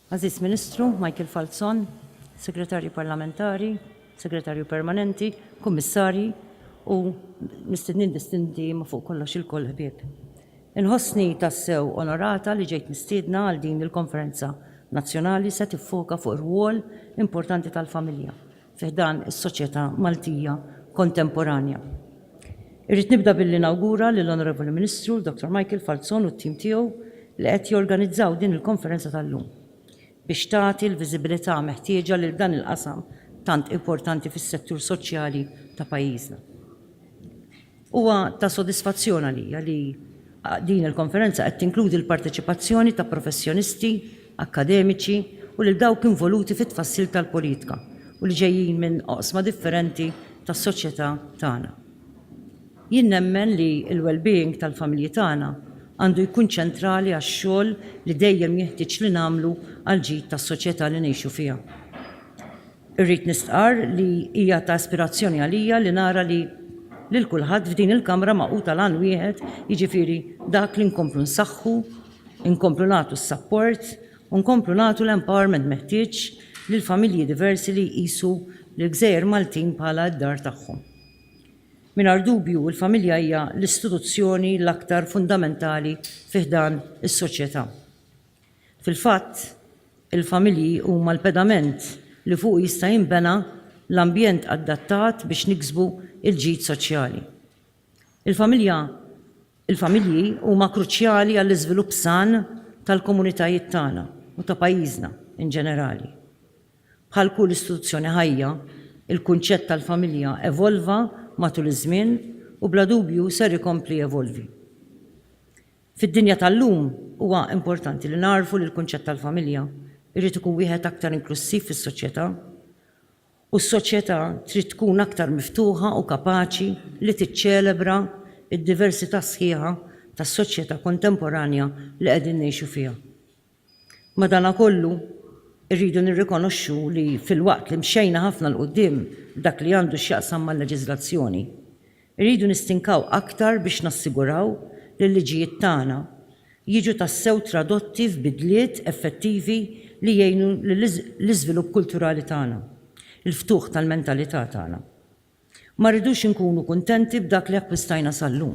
Aziz Ministru, Michael Falzon, Segretarju Parlamentari, Segretarju Permanenti, Kummissarji u mistednin distinti ma fuq kollox il-koll ħbieb. Inħossni tassew onorata li ġejt mistiedna għal din il-konferenza nazzjonali se tiffoka fuq ir-rwol importanti tal-familja fi ħdan is-soċjetà Maltija kontemporanja. Irrid nibda billi nawgura lill-Onorevoli Ministru, Dr. Michael Falzon u t-tim tiegħu li qed jorganizzaw din il-konferenza tal-lum biex tagħti l-viżibilità meħtieġa lil dan il-qasam tant importanti fis-settur soċjali ta' pajjiżna. Huwa ta' sodisfazzjon għalija li din il-konferenza qed tinkludi l-parteċipazzjoni ta' professjonisti, akkademiċi u lil dawk involuti fit-tfassil tal-politika u li ġejjin minn oqsma differenti tas-soċjetà tagħna. Jien nemmen li l-wellbeing tal-familji tagħna għandu jkun ċentrali għax-xogħol li dejjem jeħtieġ li nagħmlu għall-ġid tas-soċjetà li ngħixu fiha. Irrid nistqarr li hija ta' ispirazzjoni għalija li nara li lil kulħadd f'din il-Kamra magħqud għal għan wieħed, jiġifieri dak li nkomplu nsaħħu, inkomplu nagħtu s-sapport u nkomplu nagħtu l-empowerment meħtieġ lill-familji diversi li jqisu lill-gżejjer Maltin bħala d-dar tagħhom. Mingħajr dubju l-familja hija l-istituzzjoni l-aktar fundamentali fi ħdan is-soċjetà. Fil-fatt, il-familji huma l-pedament li fuqu jista' jinbena l-ambjent adattat biex niksbu l-ġid soċjali. Il-familja il-familji huma kruċjali għall-iżvilupp san tal-komunitajiet tagħna u ta' pajjiżna in ġenerali. Bħal kull istituzzjoni ħajja, il-kunċett tal-familja evolva matul iż-żmien u bla dubju ser ikompli jevolvi. Fid-dinja tal-lum, huwa importanti li nagħrfu li l-kunċett tal-familja jrid ikun wieħed aktar inklussiv fis-soċjetà, u s-soċjetà trid tkun aktar miftuħa u kapaċi li tiċċelebra d-diversità sħiħa tas-soċjetà kontemporanja li qegħdin ngħixu fiha. Madanakollu, irridu nirrikonoxxu li filwaqt li mxejna ħafna 'l quddiem f'dak li għandu x'jaqsam mal-leġiżlazzjoni, irridu nistinkaw aktar biex nassiguraw li l-liġijiet tagħna jiġu tassew tradotti f'bidliet effettivi li jgħinu lill-iżvilupp kulturali tagħna, il-ftuħ tal-mentalità tagħna. Ma rridux inkunu kuntenti b'dak li akkwistajna sal-lum,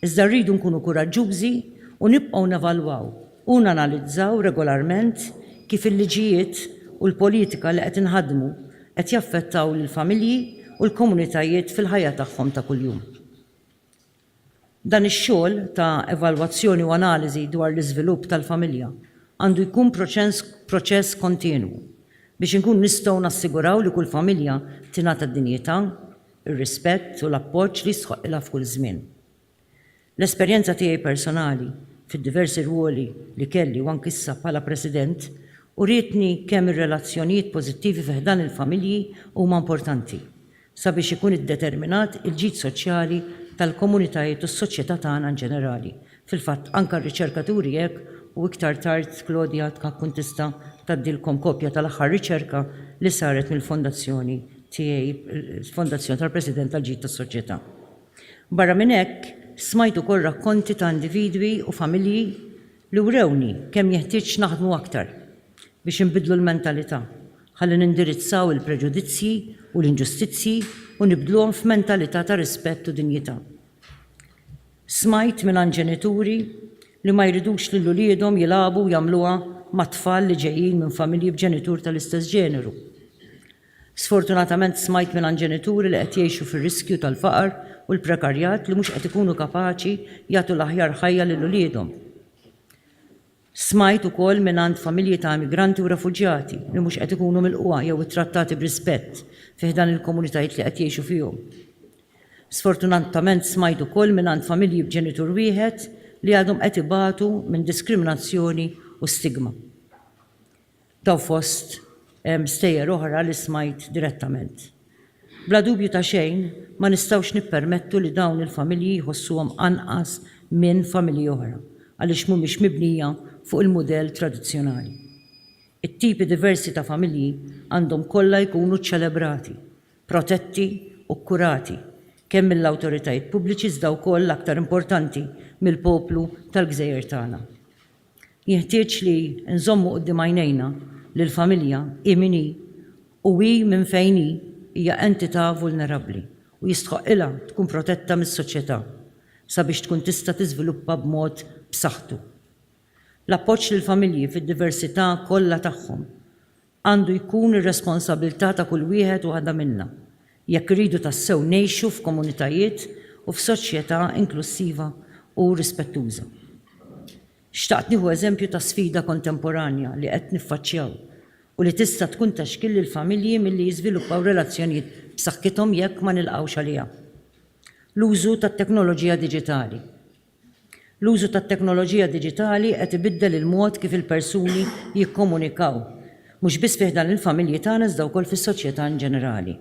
iżda rridu nkunu kuraġġużi u nibqgħu nevalwaw u nanalizzaw regolarment kif il-liġijiet u l-politika li qed inħaddmu qed jaffettaw lill-familji u l-komunitajiet fil-ħajja tagħhom ta' kuljum. Dan ix-xogħol ta' evalwazzjoni u analiżi dwar l-iżvilupp tal-familja għandu jkun proċess kontinwu biex inkunu nistgħu nassiguraw li kull familja tingħata d-dinjità, ir-rispett u l-appoġġ li jistħoqqilha f'kull żmien. L-esperjenza tiegħi personali fid-diversi rwoli li kelli u anki issa bħala President urietni kemm ir-relazzjonijiet pożittivi fi ħdan il-familji huma importanti sabiex ikun iddeterminat il-ġid soċjali tal-komunitajiet u s-soċjetà tagħna inġenerali. Fil-fatt, anke r-riċerka turi hekk u iktar tard Claudia tkun tista' tgħaddilkom kopja tal-aħħar riċerka li saret mill-fondazzjoni tiegħi, il-Fondazzjoni tal-President għall-Ġid tas-Soċjetà. Barra minn hekk, smajt ukoll rakkonti ta' individwi u familji li wrewni kemm jeħtieġ naħdmu aktar biex inbiddlu l-mentalità Ħalli nindirizzaw il-preġudizzji u l-inġustizzji u nibdluhom f'mentalità ta' rispett u dinjità. Smajt mingħand ġenituri li ma jridux lil uliedhom jilagħbu u jagħmluha ma' tfal li ġejjin minn familji b'ġenitur tal-istess ġeneru. Sfortunatament smajt mingħand ġenituri li qed jgħixu fir-riskju tal-faqar u l-prekarjat li mhux qed ikunu kapaċi jagħtu l-aħjar ħajja lil uliedhom. Smajt ukoll mingħand familji ta' immigranti u refuġjati li mhux qed ikunu milqugħa jew ittrattati b'rispett fi ħdan il-komunitajiet li qed jgħixu fihom. Sfortunatament smajt ukoll mingħand familji b'ġenitur wieħed li għadhom qed ibatu minn diskriminazzjoni u stigma. ta' fost stejjer oħra li smajt direttament. Bla dubju ta' xejn, ma nistgħux nippermettu li dawn il-familji jħossuhom anqas minn familji oħra għaliex mhumiex mibnija fuq il-mudell tradizzjonali. It-tipi diversi ta' familji għandhom kollha jkunu ċċelebrati, protetti u kkurati kemm mill-awtoritajiet pubbliċi iżda wkoll, l-aktar importanti, mill-poplu tal-gżejjer tagħna. Jenħtieġ li nżommu quddiem għajnejna li l-familja, hi min hi u hi minn fejn hi, hija entità vulnerabbli u jistħoqqilha tkun protetta mis-soċjetà sabiex tkun tista' tiżviluppa b'mod b'saħħtu. L-appoġġ lill-familji fid-diversità kollha tagħhom Għandu jkun ir-responsabilità ta' kull wieħed u waħda minna jekk irridu tassew ngħixu f'komunitajiet u f'soċjetà inklussiva u rispettuża. Xtaqt nieħu eżempju ta' sfida kontemporanja li qed niffaċċjaw u li tista' tkun ta' xkiel lill-familji milli jiżviluppaw relazzjonijiet b'saħħithom jekk ma nilqgħux għaliha. L-użu tat-teknoloġija diġitali L-użu tat-teknoloġija diġitali qed ibiddel il-mod kif il-persuni jikkomunikaw, mhux biss fi ħdan il-familji tagħna iżda wkoll fis-soċjetà inġenerali.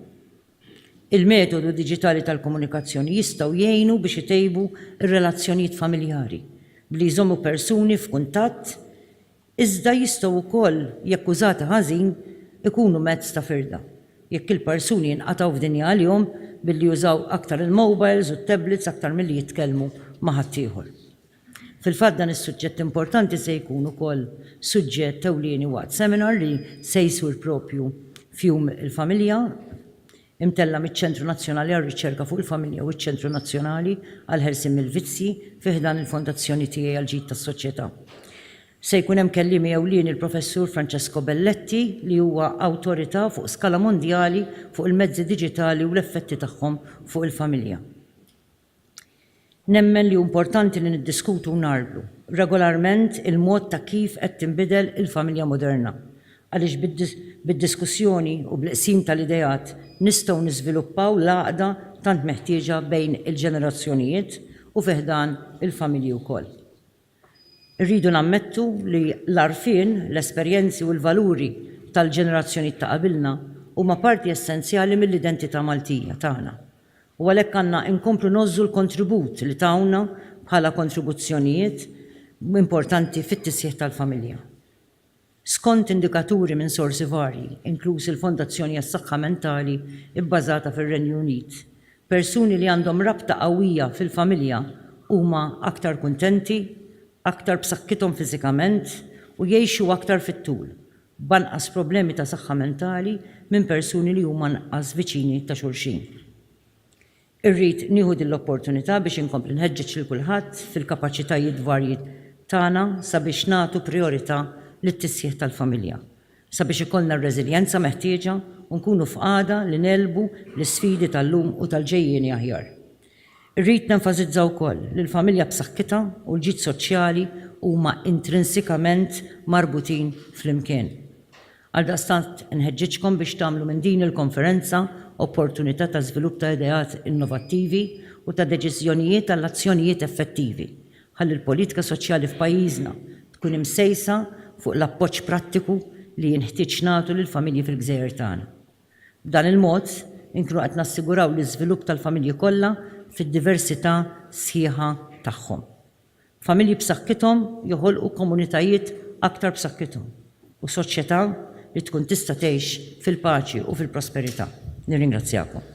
Il-metodu diġitali tal-komunikazzjoni jistgħu jgħinu biex itejbu r-relazzjonijiet familjari, billi jżommu persuni f'kuntatt, iżda jistgħu wkoll, jekk użati ħażin, ikunu mezz ta' firda. Jekk il-persuni jinqatgħu f'dinja għalihom billi jużaw aktar il-mowbajls u t-tablets aktar milli jitkellmu ma' ħaddieħor. Fil-fatt dan is-suġġett importanti se jkun ukoll suġġett ewlieni waqt seminar li se jsir propju f'Jum il-Familja imtella' miċ-Ċentru Nazzjonali għar-Riċerka fuq il-Familja u ċ-Ċentru Nazzjonali għall-Ħelsien mill-Vizzji fi ħdan il-Fondazzjoni Tiegħi għall-Ġid tas-Soċjetà. Se jkun hemm kelliemi ewlieni l-Professur Francesco Belletti li huwa awtorità fuq skala mondjali fuq il-mezzi diġitali u l-effetti tagħhom fuq il-familja. Nemmen li hu importanti li niddiskutu u ngħarblu regolarment il-mod ta' kif qed tinbidel il-familja moderna għaliex bid-diskussjoni u bl-qsim tal-ideat nistgħu niżviluppaw l-għaqda tant meħtieġa bejn il-ġenerazzjonijiet u fi ħdan il-familji wkoll. Irridu nammettu li l-għarfien, l-esperjenzi u l-valuri tal-ġenerazzjonijiet ta' qabilna huma parti essenzjali mill-identità Maltija tagħna u għalhekk għandna inkomplu ngħożżu l-kontribut li tawna bħala kontribuzzjonijiet importanti fit-tisħiħ tal-familja. skont indikaturi minn sorsi varji, inkluż il-Fondazzjoni għas-Saħħa Mentali bbażata fir-Renju Unit, persuni li għandhom rabta qawwija fil-familja huma aktar kuntenti, aktar b'saħħithom fiżikament u jgħixu aktar fit-tul, b'anqas problemi ta' saħħa mentali minn persuni li huma anqas viċini ta' xulxin. Irrid nieħu din l-opportunità biex inkompli nħeġġeġ lil kulħadd fil-kapaċitajiet varji tagħna sabiex nagħtu prijorità lit-tisħiħ tal-familja, sabiex ikollna r-reżiljenza meħtieġa u nkunu f'qagħda li negħlbu l-isfidi tal-lum u tal-ġejjieni aħjar. Irrid nenfasizza wkoll li l-familja b'saħħitha u l-ġid soċjali huma intrinsikament marbutin flimkien. Għaldaqstant inħeġġiġkom biex tagħmlu minn din il-konferenza opportunità ta' żvilupp ta' ideat innovattivi u ta' deċiżjonijiet għal azzjonijiet effettivi, ħalli l-politika soċjali f'pajjiżna tkun imsejsa fuq l-appoġġ prattiku li jinħtieġ nagħtu lill-familji fil-gżejjer tagħna. B'dan il-mod, inkunu qed nassiguraw l-iżvilupp tal-familji kollha fid-diversità sħiħa tagħhom. Familji b'saħħithom joħolqu komunitajiet aktar b'saħħithom u soċjetà li tkun tista' tgħix fil-paċi u fil-prosperità. Nirringrazzjakom.